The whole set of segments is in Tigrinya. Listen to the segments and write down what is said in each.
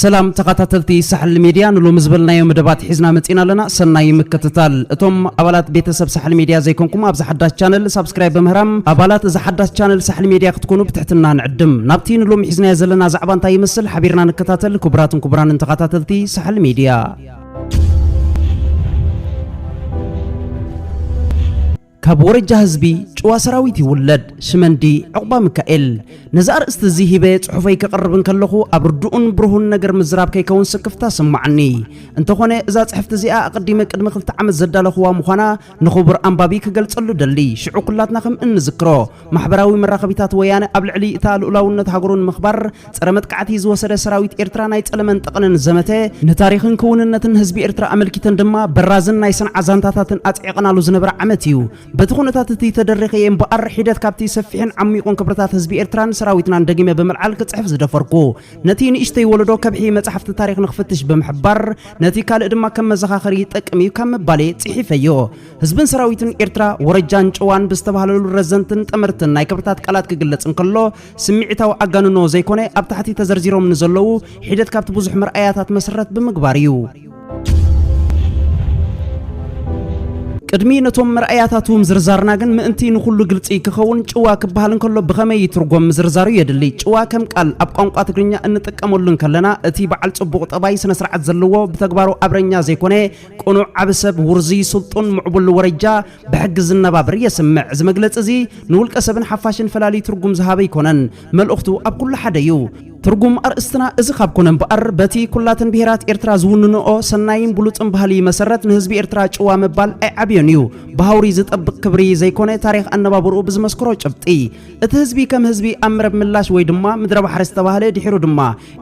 ሰላም ተኸታተልቲ ሳሕል ሚድያ ንሎሚ ዝበልናዮ መደባት ሒዝና መፂና ኣለና ሰናይ ምክትታል እቶም ኣባላት ቤተሰብ ሳሕል ሚድያ ዘይኮንኩም ኣብዚ ሓዳስ ቻነል ሳብስክራይብ በምህራም ኣባላት እዚ ሓዳስ ቻነል ሳሕል ሚድያ ክትኮኑ ብትሕትና ንዕድም። ናብቲ ንሎሚ ሒዝናዮ ዘለና ዛዕባ እንታይ ይመስል ሓቢርና ንከታተል ክቡራትን ክቡራንን ተኻታተልቲ ሳሕል ሚድያ። ካብ ወረጃ ህዝቢ ጭዋ ሰራዊት ይውለድ ሽመንዲ ዕቑባ ምካኤል። ነዚ ኣርእስቲ እዚ ሂበ ጽሑፈይ ከቕርብ እንከለኹ ኣብ ርዱኡን ብሩሁን ነገር ምዝራብ ከይከውን ስክፍታ ስማዓኒ። እንተኾነ እዛ ጽሕፍቲ እዚኣ ኣቐዲመ ቅድሚ ክልተ ዓመት ዘዳለኹዋ ምዃና ንኹቡር ኣንባቢ ክገልጸሉ ደሊ ሽዑ ኩላትና ከም እንዝክሮ ማሕበራዊ መራኸቢታት ወያነ ኣብ ልዕሊ እታ ልኡላውነት ሃገሩ ንምኽባር ጸረ መጥቃዕቲ ዝወሰደ ሰራዊት ኤርትራ ናይ ጸለመን ጠቕንን ዘመተ ንታሪኽን ክውንነትን ህዝቢ ኤርትራ ኣመልኪተን ድማ በራዝን ናይ ሰንዓ ዛንታታትን ኣጽዒቐናሉ ዝነበረ ዓመት እዩ። በቲ ኩነታት እቲ ተደሪኸ እየ እምበኣር ሒደት ካብቲ ሰፊሕን ዓሚቑን ክብርታት ህዝቢ ኤርትራን ሰራዊትናን ደጊመ ብምልዓል ክጽሕፍ ዝደፈርኩ። ነቲ ንእሽተይ ወለዶ ከብሒ መጻሕፍቲ ታሪኽ ንኽፍትሽ ብምሕባር ነቲ ካልእ ድማ ከም መዘኻኸሪ ይጠቅም እዩ ካብ ምባሌ ጽሒፈዮ። ህዝብን ሰራዊትን ኤርትራ ወረጃን ጭዋን ብዝተባህለሉ ረዘንትን ጠመርትን ናይ ክብርታት ቃላት ክግለጽ እንከሎ ስምዒታዊ ኣጋንኖ ዘይኮነ ኣብ ታሕቲ ተዘርዚሮም ንዘለዉ ሒደት ካብቲ ብዙሕ መርኣያታት መስረት ብምግባር እዩ። ቅድሚ ነቶም መርኣያታቱ ምዝርዛርና ግን ምእንቲ ንኹሉ ግልጺ ክኸውን ጭዋ ክበሃል እንከሎ ብኸመይ ይትርጎም ምዝርዛሩ የድሊ። ጭዋ ከም ቃል ኣብ ቋንቋ ትግርኛ እንጥቀመሉ እንከለና እቲ በዓል ጽቡቕ ጠባይ ስነ ስርዓት ዘለዎ ብተግባሩ ኣብረኛ ዘይኮነ ቅኑዕ ዓቢ ሰብ ውርዙይ ስልጡን ምዕቡል ወረጃ ብሕጊ ዝነባብር የስምዕ። እዚ መግለጺ እዚ ንውልቀ ሰብን ሓፋሽን ፈላልዩ ትርጉም ዝሃበ ኣይኮነን። መልእኽቱ ኣብ ኩሉ ሓደ እዩ። ትርጉም ኣርእስትና እዚ ካብ ኮነ እምበኣር፣ በቲ ኩላተን ብሄራት ኤርትራ ዝውንንኦ ሰናይን ብሉጽን ባህሊ መሰረት ንህዝቢ ኤርትራ ጭዋ ምባል ኣይዓብዮን እዩ። ብሃውሪ ዝጠብቅ ክብሪ ዘይኮነ ታሪኽ ኣነባብርኡ ብዝመስክሮ ጭብጢ። እቲ ህዝቢ ከም ህዝቢ ኣብ ምረብ ምላሽ ወይ ድማ ምድረባሕሪ ዝተባህለ ድሒሩ ድማ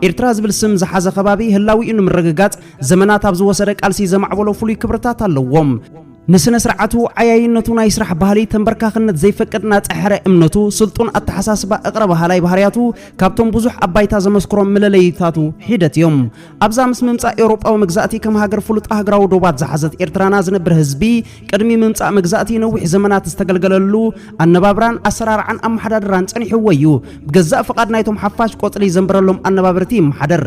ኤርትራ ዝብል ስም ዝሓዘ ከባቢ ህላዊኡ ንምርግጋጽ ዘመናት ኣብ ዝወሰደ ቃልሲ ዘማዕበሎ ፍሉይ ክብርታት ኣለዎም። ንስነ ስርዓቱ፣ ዓያይነቱ፣ ናይ ስራሕ ባህሊ፣ ተንበርካኽነት ዘይፈቅድ ናጸ ሕረ እምነቱ፣ ስልጡን ኣተሓሳስባ፣ እቕረ በሃላይ ባህርያቱ ካብቶም ብዙሕ ኣብ ባይታ ዘመስክሮም ምለለይታቱ ሒደት እዮም። ኣብዛ ምስ ምምጻእ ኤውሮጳዊ መግዛእቲ ከም ሃገር ፍሉጥ ኣህግራዊ ዶባት ዝሓዘት ኤርትራና ዝነብር ህዝቢ ቅድሚ ምምጻእ መግዛእቲ ነዊሕ ዘመናት ዝተገልገለሉ ኣነባብራን ኣሰራርዓን ኣመሓዳድራን ጸኒሕዎ እዩ። ብገዛእ ፍቓድ ናይቶም ሓፋሽ ቆጽሊ ዘንብረሎም ኣነባብርቲ ይመሓደር።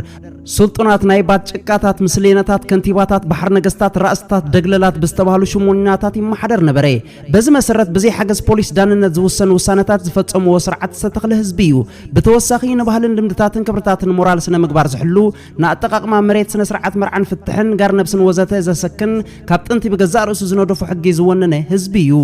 ስልጡናት ናይ ባት ጭቃታት ምስሌነታት ከንቲባታት ባሕር ነገስታት ራእስታት ደግለላት ብዝተባህሉ ሽሞኛታት ይመሓደር ነበረ በዚ መሰረት ብዘይ ሓገዝ ፖሊስ ዳንነት ዝውሰኑ ውሳነታት ዝፈጸምዎ ስርዓት ዝተተኽለ ህዝቢ እዩ ብተወሳኺ ንባህልን ልምድታትን ክብርታትን ሞራል ስነ ምግባር ዝሕሉ ንኣጠቃቅማ መሬት ስነ ስርዓት መርዓን ፍትሕን ጋር ነብስን ወዘተ ዘሰክን ካብ ጥንቲ ብገዛእ ርእሱ ዝነደፎ ሕጊ ዝወነነ ህዝቢ እዩ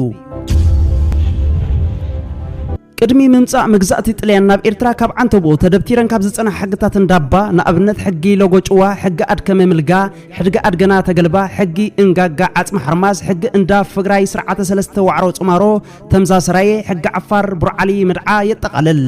ቅድሚ ምምጻእ መግዛእቲ ጥልያን ናብ ኤርትራ ካብ ዓንተቦ ተደብቲረን ካብ ዝጸንሓ ሕግታት እንዳባ ንኣብነት ሕጊ ሎጎ-ጭዋ፣ ሕጊ ኣድከመ ምልጋ፣ ሕድጊ ኣድገና ተገልባ፣ ሕጊ እንጋጋ ዓጽሚ ሓርማዝ፣ ሕጊ እንዳ ፍግራይ ስርዓተ ሰለስተ ዋዕሮ ጽማሮ፣ ተምዛ ሰራየ፣ ሕጊ ዓፋር ቡርዓሊ ምድዓ የጠቓልል።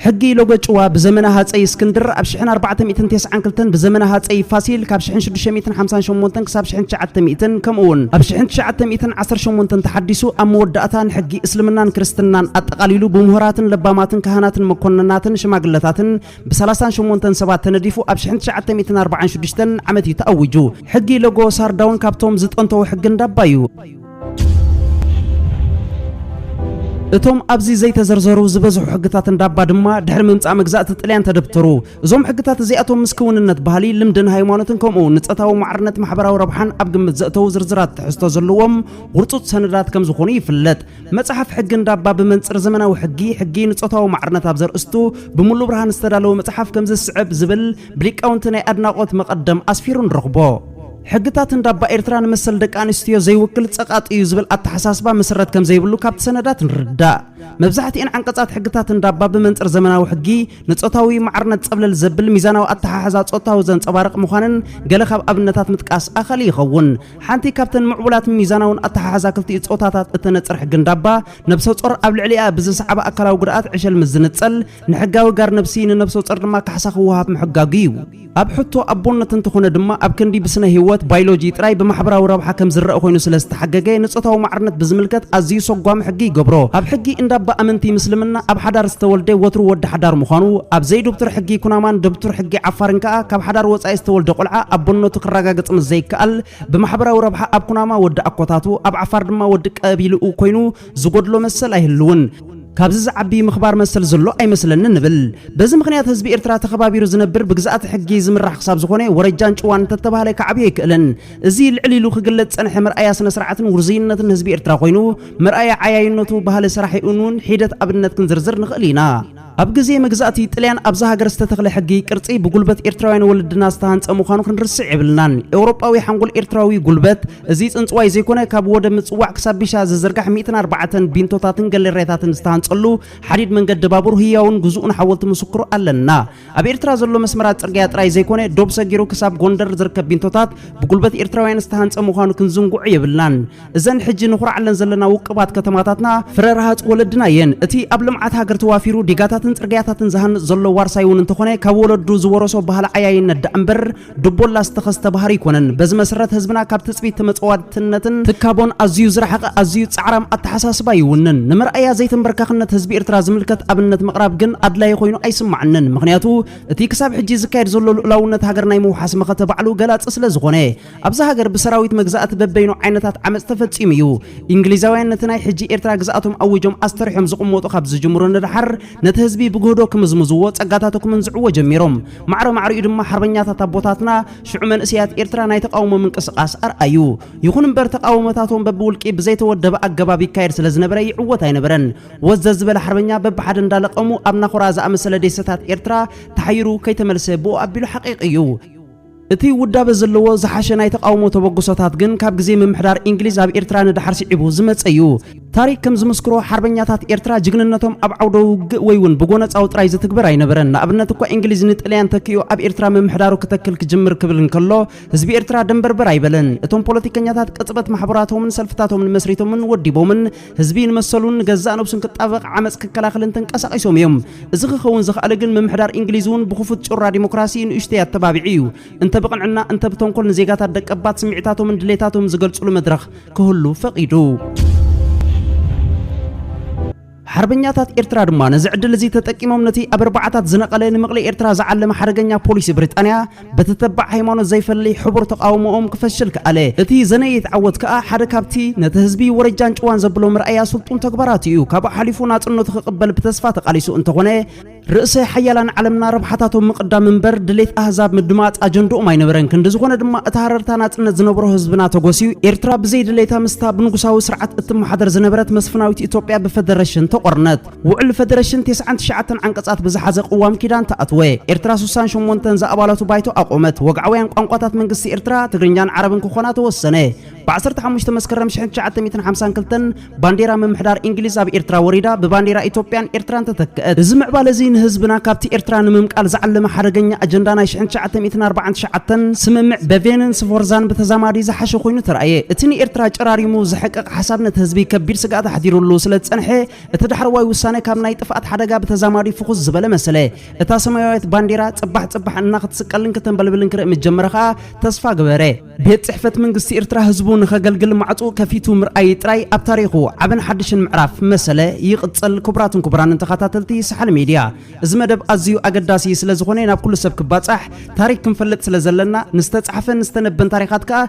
ሕጊ ሎጎ-ጭዋ ብዘመነ ሃጸይ እስክንድር ኣብ ሽሕን ኣርባዕተ ሚእትን ቴስዓን ክልተን ብዘመነ ሃጸይ ፋሲል ካብ ሽሕን ሽዱሽተ ሚእትን ሓምሳን ሸሞንተን ክሳብ ሽሕን ትሽዓተ ሚእትን ከምኡውን ኣብ ሽሕን ትሽዓተ ሚእትን ዓሰርተ ሸሞንተን ተሓዲሱ ኣብ መወዳእታ ንሕጊ እስልምናን ክርስትናን ኣጠቓሊሉ ብምሁራትን ለባማትን ካህናትን መኮንናትን ሽማግለታትን ብሰላሳን ሸሞንተን ሰባት ተነዲፉ ኣብ 1946 ዓመት እዩ ተኣዊጁ። ሕጊ ሎጎ ሳርዳውን ካብቶም ዝጠንተዉ ሕጊ እንዳባ እዩ። እቶም ኣብዚ ዘይተዘርዘሩ ዝበዝሑ ሕግታት እንዳባ ድማ ድሕሪ ምምጻእ መግዛእቲ ጥልያን ተደብተሩ። እዞም ሕግታት እዚኣቶም ምስ ክውንነት ባህሊ፣ ልምድን ሃይማኖትን ከምኡ ንጸታዊ ማዕርነት ማሕበራዊ ረብሓን ኣብ ግምት ዘእተዉ ዝርዝራት ትሕዝቶ ዘለዎም ውርጹጽ ሰነዳት ከም ዝኾኑ ይፍለጥ። መጽሓፍ ሕጊ እንዳባ ብመንጽር ዘመናዊ ሕጊ፣ ሕጊ ንጾታዊ ማዕርነት ኣብ ዘርእስቱ ብምሉእ ብርሃን ዝተዳለወ መጽሓፍ ከምዚ ዝስዕብ ዝብል ብሊቃውንቲ ናይ ኣድናቖት መቐደም ኣስፊሩ ንረኽቦ። ሕግታት እንዳባ ኤርትራ ንመሰል ደቂ ኣንስትዮ ዘይውክል ጸቓጢ እዩ ዝብል ኣተሓሳስባ መሰረት ከም ዘይብሉ ካብቲ ሰነዳት ንርዳእ። መብዛሕትኤን ዓንቀጻት ሕግታት እንዳባ ብመንጽር ዘመናዊ ሕጊ ንጾታዊ ማዕርነት ጸብለል ዘብል ሚዛናዊ ኣተሓሕዛ ጾታዊ ዘንጸባርቕ ምዃነን ገለ ካብ ኣብነታት ምጥቃስ ኣኸሊ ይኸውን። ሓንቲ ካብተን ምዕቡላት ሚዛናውን ኣተሓሕዛ ክልቲኡ ጾታታት እተነጽር ሕጊ እንዳባ፣ ነብሰ-ጾር ኣብ ልዕሊኣ ብዝሰዕባ ኣካላዊ ጉድኣት ዕሸል ምስ ዝንጸል፣ ንሕጋዊ ጋር ነብሲ፣ ንነብሰ-ጾር ድማ ካሕሳ ክወሃብ ምሕጋጉ እዩ። ኣብ ሕቶ ኣቦነት እንተኾነ ድማ፣ ኣብ ክንዲ ብስነ-ሂወት፣ ባይሎጂ፣ ጥራይ ብማሕበራዊ ረብሓ ከም ዝረኣ ኮይኑ ስለ ዝተሓገገ፣ ንጾታዊ ማዕርነት ብዝምልከት ኣዝዩ ሰጓሚ ሕጊ ይገብሮ። ኣብ ሕጊ እንዳባ ኣመንቲ ምስልምና፣ ኣብ ሓዳር ዝተወልደ ወትሩ ወዲ ሓዳር ምዃኑ፣ ኣብ ዘይዱብቱር ሕጊ ኩናማን ደብቱር ሕጊ ዓፋርን ከኣ፣ ካብ ሓዳር ወጻኢ ዝተወልደ ቆልዓ ኣቦነቱ ክረጋገጽ ምስ ከኣል ብማሕበራዊ ረብሓ ኣብ ኩናማ ወዲ ኣኮታቱ ኣብ ዓፋር ድማ ወዲ ቀቢልኡ ኮይኑ ዝጎድሎ መሰል ኣይህልውን። ካብዚ ዝዓቢ ምኽባር መሰል ዘሎ ኣይመስለንን እብል። በዚ ምኽንያት ህዝቢ ኤርትራ ተኸባቢሩ ዝነብር ብግዝኣተ ሕጊ ዝምራሕ ክሳብ ዝኾነ ወረጃን ጭዋን እንተተባህለ ክዓብዮ ኣይክእልን። እዚ ልዕል ኢሉ ክግለጽ ዝጸንሐ መርኣያ ስነስርዓትን ውርዙይነትን ህዝቢ ኤርትራ ኮይኑ መርኣያ ዓያይነቱ ባህሊ ሰራሒኡንውን ሒደት ኣብነት ክንዝርዝር ንኽእል ኢና። ኣብ ግዜ መግዛእቲ ጥልያን ኣብዛ ሃገር ዝተተኽለ ሕጊ ቅርጺ ብጉልበት ኤርትራውያን ወለድና ዝተሃንጸ ምዃኑ ክንርስዕ የብልናን። ኤውሮጳዊ ሓንጎል ኤርትራዊ ጉልበት እዚ ጽንጽዋይ ዘይኮነ ካብ ወደብ ምጽዋዕ ክሳብ ቢሻ ዝዝርጋሕ ሚእትን ኣርባዕተን ቢንቶታትን ገሌርያታትን ዝተሃንጸሉ ሓዲድ መንገዲ ባቡር ህያውን ግዙእን ሓወልቲ ምስክሩ ኣለና። ኣብ ኤርትራ ዘሎ መስመራት ጽርግያ ጥራይ ዘይኮነ ዶብ ሰጊሩ ክሳብ ጎንደር ዝርከብ ቢንቶታት ብጉልበት ኤርትራውያን ዝተሃንጸ ምዃኑ ክንዝንግዖ የብልናን። እዘን ሕጂ ንኹርዓለን ዘለና ውቅባት ከተማታትና ፍረ ረሃጽ ወለድና እየን። እቲ ኣብ ልምዓት ሃገር ተዋፊሩ ዲጋታትን ጽርግያታትን ዝሃንጽ ዘሎ ዋርሳይ እውን እንተኾነ ካብ ወለዱ ዝወረሶ ባህሊ ዓያይነት ደኣ እምበር ድቦላ ዝተኸስተ ባህሪ ኣይኮነን። በዚ መስረት ህዝብና ካብ ትጽቢት ተመጸዋትነትን ትካቦን ኣዝዩ ዝረሓቐ ኣዝዩ ጻዕራም ኣተሓሳስባ ይውንን። ንመርኣያ ዘይተምበርካኽነት ህዝቢ ኤርትራ ዝምልከት ኣብነት ምቕራብ ግን ኣድላዪ ኮይኑ ኣይስማዓንን። ምኽንያቱ እቲ ክሳብ ሕጂ ዝካየድ ዘሎ ልኡላውነት ሃገር ናይ ምውሓስ መኸተ ባዕሉ ገላጺ ስለዝኾነ። ኣብዛ ሃገር ብሰራዊት መግዛእቲ በበይኑ ዓይነታት ዓመፅ ተፈፂሙ እዩ። ኢንግሊዛውያን ነቲ ናይ ሕጂ ኤርትራ ግዝኣቶም ኣዊጆም ኣስተሪሖም ዝቕመጡ ካብ ዝጅምሩ ንደሓር ነቲ ህዝቢ ብግህዶ ክምዝምዝዎ ጸጋታቱ ክምንዝዕዎ ጀሚሮም። ማዕረ ማዕሪኡ ድማ ሓርበኛታት ኣቦታትና ሽዑ መንእሰያት ኤርትራ ናይ ተቓውሞ ምንቅስቓስ ኣርኣዩ። ይኹን እምበር ተቓውሞታቶም በብውልቂ ብዘይተወደበ ኣገባብ ይካየድ ስለ ዝነበረ ይዕወት ኣይነበረን። ወዝዘዝ ዝበለ ሓርበኛ በብሓደ እንዳለቐሙ ኣብ ናኹራ ዝኣመሰለ ዴሰታት ኤርትራ ተሓይሩ ከይተመልሰ ብኡ ኣቢሉ ሓቒቒ እዩ። እቲ ውዳበ ዘለዎ ዝሓሸ ናይ ተቓውሞ ተበግሶታት ግን ካብ ግዜ ምምሕዳር ኢንግሊዝ ኣብ ኤርትራ ንደሓር ስዒቡ ዝመጸ እዩ። ታሪኽ ከም ዝምስክሮ ሓርበኛታት ኤርትራ ጅግንነቶም ኣብ ዓውደ ውግእ ወይ ውን ብጎነጻዊ ጥራይ ዝትግበር ኣይነበረን። ንኣብነት እኳ ኢንግሊዝ ንጥልያን ተኪኡ ኣብ ኤርትራ ምምሕዳሩ ክተክል ክጅምር ክብል እንከሎ ህዝቢ ኤርትራ ደንበርበር ኣይበለን። እቶም ፖለቲከኛታት ቅጽበት ማሕበራቶምን ሰልፍታቶምን መስሪቶምን ወዲቦምን ህዝቢ ንመሰሉን ንገዛእ ነብሱን ክጣበቕ ዓመጽ ክከላኸልን ተንቀሳቒሶም እዮም። እዚ ክኸውን ዝኸኣለ ግን ምምሕዳር እንግሊዝ እውን ብክፉት ጩራ ዲሞክራሲ ንእሽተይ ኣተባቢዑ እዩ። እንተ ብቕንዕና እንተ ብተንኮል ንዜጋታት ደቀባት ስምዒታቶምን ድሌታቶምን ዝገልጹሉ መድረኽ ክህሉ ፈቒዱ። ሓርበኛታት ኤርትራ ድማ ነዚ ዕድል እዚ ተጠቂሞም ነቲ ኣብ ኣርባዓታት ዝነቐለ ንምቕሊ ኤርትራ ዝዓለመ ሓደገኛ ፖሊሲ ብሪጣንያ በቲ ተባዕ ሃይማኖት ዘይፈሊ ሕቡር ተቓውሞኦም ክፈሽል ከኣለ። እቲ ዘነየት ዓወት ከኣ ሓደ ካብቲ ነቲ ህዝቢ ወረጃን ጭዋን ዘብሎ መርኣያ ስልጡን ተግባራቱ ኢዩ። ካብኡ ሓሊፉ ናጽነቱ ክቕበል ብተስፋ ተቓሊሱ እንተኾነ፣ ርእሰ ሓያላን ዓለምና ረብሓታቶም ምቕዳም እምበር ድሌት ኣህዛብ ምድማጽ ኣጀንድኦም ኣይነበረን። ክንዲ ዝኾነ ድማ እቲ ሃረርታ ናጽነት ዝነበሮ ህዝብና ተጎስዩ፣ ኤርትራ ብዘይ ድሌታ ምስታ ብንጉሳዊ ስርዓት እትመሓደር ዝነበረት መስፍናዊት ኢትዮጵያ ብፈደረሽን ተቖርነት። ውዕል ፈደረሽን ቴስዓን ትሽዓተን ዓንቀጻት ብዝሓዘ ቅዋም ኪዳን ተኣትወ። ኤርትራ ሱሳን ሸሞንተን ዝኣባላቱ ባይቶ ኣቖመት። ወግዓውያን ቋንቋታት መንግስቲ ኤርትራ ትግርኛን ዓረብን ክኾና ተወሰነ። ብ ዓሰርተ ሓሙሽተ መስከረም ሽሕን ትሽዓተ ሚእትን ሓምሳን ክልተን ባንዴራ ምምሕዳር ኢንግሊዝ ኣብ ኤርትራ ወሪዳ ብባንዴራ ኢትዮጵያን ኤርትራን ተተክእት። እዚ ምዕባለ'ዚ ንህዝብና ካብቲ ኤርትራ ንምምቃል ዝዓለመ ሓደገኛ ኣጀንዳ ናይ ሽሕን ትሽዓተ ሚእትን ኣርባዓን ትሽዓተን ስምምዕ በቬንን ስፎርዛን ብተዛማዲ ዝሓሸ ኮይኑ ተራእየ። እቲ ንኤርትራ ጨራሪሙ ዘሕቅቕ ሓሳብ ነቲ ህዝቢ ከቢድ ስግኣት ኣሕዲሩሉ ስለዝጸንሐ እቲ ዳሕረዋይ ውሳነ ካብ ናይ ጥፍኣት ሓደጋ ብተዛማዲ ፍኹስ ዝበለ መሰለ። እታ ሰማያዊት ባንዴራ ጽባሕ ጽባሕ እናክትስቀልን ክተንበልብልን ክርኢ ምስ ጀመረ ከኣ ተስፋ ገበረ። ቤት ጽሕፈት መንግስቲ ኤርትራ ህዝቡ ንኸገልግል ማዕጹኡ ከፊቱ ምርኣይ ጥራይ ኣብ ታሪኹ ዓብን ሓድሽን ምዕራፍ መሰለ። ይቕጽል። ክቡራትን ክቡራንን ተኻታተልቲ ሳሕል ሜድያ እዚ መደብ ኣዚዩ ኣገዳሲ ስለ ዝኾነ ናብ ኩሉ ሰብ ክባጻሕ ታሪክ ክንፈልጥ ስለ ዘለና ንዝተጻሕፈን ዝተነበን ታሪኻት ከኣ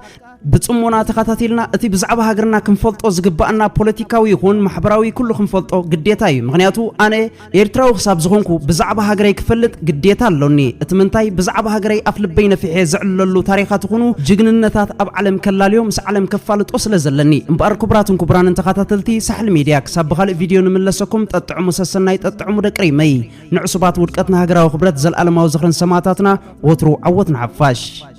ብጽሞና ተኸታቲልና እቲ ብዛዕባ ሃገርና ክንፈልጦ ዝግባኣና ፖለቲካዊ ይኹን ማሕበራዊ ኩሉ ክንፈልጦ ግዴታ እዩ። ምክንያቱ ኣነ ኤርትራዊ ክሳብ ዝኾንኩ ብዛዕባ ሃገረይ ክፈልጥ ግዴታ ኣሎኒ። እቲ ምንታይ ብዛዕባ ሃገረይ ኣፍ ልበይ ነፊሐ ዘዕልለሉ ታሪኻት ይኹኑ ጅግንነታት ኣብ ዓለም ከላልዮ ምስ ዓለም ከፋልጦ ስለ ዘለኒ። እምበኣር ክቡራትን ክቡራንን ተኸታተልቲ ሳሕል ሚድያ ክሳብ ብኻልእ ቪድዮ ንምለሰኩም ጠጥዕሙ ሰሰናይ ጠጥዕሙ ደቂ ሪመይ። ንዕሱባት ውድቀት ንሃገራዊ ክብረት ዘልኣለማዊ ዝኽርን ሰማእታትና ወትሩ ዓወት ንሓፋሽ።